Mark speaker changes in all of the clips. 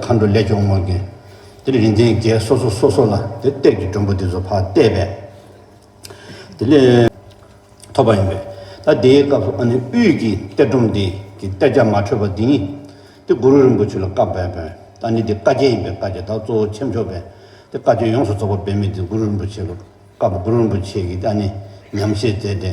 Speaker 1: མཁའ་འགྲོ་ལས་སྐྱོང་དམག་གིས་དེ་རིང་ཚན་བརྒྱད་སོ་སོ་སོ་སོ་ལ་དེ་གཏེར་གྱི་སྒྲོམ་བུ་དེ་ཚོ་ཕར་གཏད་པས། དེ་ལས་ཐོབ་པ་ཡིན་པས། ད་དེའི་སྐབས་སུ་ཨ་ནི་དབུས་ཀྱི་གཏེར་སྒྲོམ་འདི་ཀྱི་གཏེར་རྒྱ་མ་འཕྲོད་པ་འདི་ཉིད། དེ་གུ་རུ་རིན་པོ་ཆེ་ལ་བཀའ་བབས་པས། ཨ་ནི་དེ་བཀའ་རྒྱས་ཡིན་པས་བཀའ་རྒྱ་དག་གཙོ་བོ་ཆེ་མཆོག་པས་དེ་བཀའ་ཆོས་ཡོངས་སུ་རྫོགས་པ་འབད་མེད་དེ་གུ་རུ་རིན་པོ་ཆེ་ལ་བཀའ་བབས་གུ་རུ་རིན་པོ་ཆེ་གིས་ཨ་ནི་ཉམས་བཞེས་མཛད་དེ།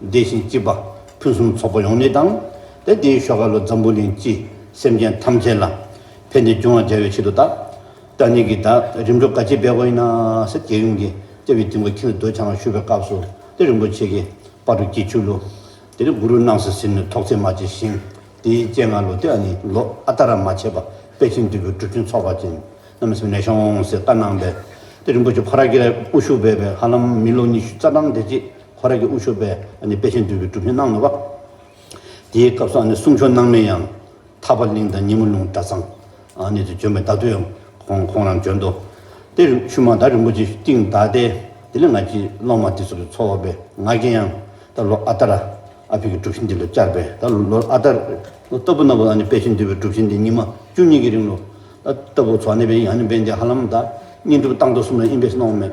Speaker 1: བདེ་ཞིང་སྐྱིད་པ་ཕུན་སུམ་ཚོགས་པ་ཡོང་ནི་དང། དེ་དེའི་ཤོག་ཁ་ལོ་འཛམ་བུ་གླིང་སྤྱི་སེམས་ཅན་ཐམས་ཅད་ལ་ཕན་བདེ་འབྱུང་བར་བྱ་བའི་ཆེད་དུ་ད་ལྟ་ནས་ཀྱི་ད་རིམ་གྲོ་ག་ཅི་སྦས་དགོས་ཡིན་ན་ས་སྐྱའི་ཡུམ་གྱི་ལྟེ་བའི་སྟེང་གོ་ཁྱིམ་ལ་འདོད་ཆང་བཞུ་བའི་སྐབས་སུ་ཏེ་རིན་པོ་ཆེ་གི་པར་རུ་སྐྱིད་ཆུ་ལུ། དེ་ནས་གུ་རུ་སྣང་སྲིད་ཟིན་ནས་ཐོག་ཚེས་མ་བྱས་ཤིང་དེའི་སྤྱན་སྔ་ལོ་དེ་ནི་ལོ་ཨ་ད་ར་མ་བྱས་པ་དཔལ་ཆེན་འདུས་པའི་གྲུ་ཆེན་ཚོགས་པ་ཅན་རྣམས་སེམས་ནས་ཤོང་ཟེར་བཀའ་གནང་བས་ཏེ་རིན་པོ་ཆེ་ཕོ་ར་ཀི་ར་དབུ་བཞུགས་བས་པའི་ཧ་ལམ་མི་ལོ་ཉི་ཤུ་རྩ་གྲངས་དེ་རྗེས་ཁོ་རང་གི་དབུ་ཆོས་པས་དཔེ་ཆེན་བསྡུས་པའི་སྒྲུབ་གཞི་གནང་མེད་པ། དེའི་སྐབས་སུ་གསུང་ཆོས་གནང་མིན་ཡང། ཐར་པ་གླིང་དང་ཉི་མ་ལུང་གྲྭ་ཚང། ནས་དུ་བྱོན་པའི་བརྡ་ཐོ་ཡང་ཁོང་རང་བྱོན་ཏོ། དེར་ཆུ་མ་དར་རིན་པོ་ཆེ་བཏིང་གདའ་སྟེ། དེ་ལས་ང་ཅི་སློབ་མ་འདི་ཚོ་གི་འཚོ་བ་པའི་ང་རྒྱལ་ཡང། ད་ལོ་ཨ་ཏར། ཨ་ཕི་གི་སྒྲུབ་གཞི་འདི་ལ་བཅར་པས་ད་ལོ་ཨ་ཏར། ལྟ་བུ་རྣམས་ལ་དཔེ་ཆེན་བསྡུས་པའི་སྒྲུབ་གཞི་འདི་ཉི་མ་བཅུ་གཉིས་ཀྱི་རིང་ལོ། ལྟ་བུ་ཚོགས་གནས་པའི་ཡང་ནི་བན་དེ་ཧ་ལམ་དང། བསྙེན་སྒྲུབ་བཏང་ཐོ་གསུམ་ལ་ཨིན་བེས་གནང་བ་མེད།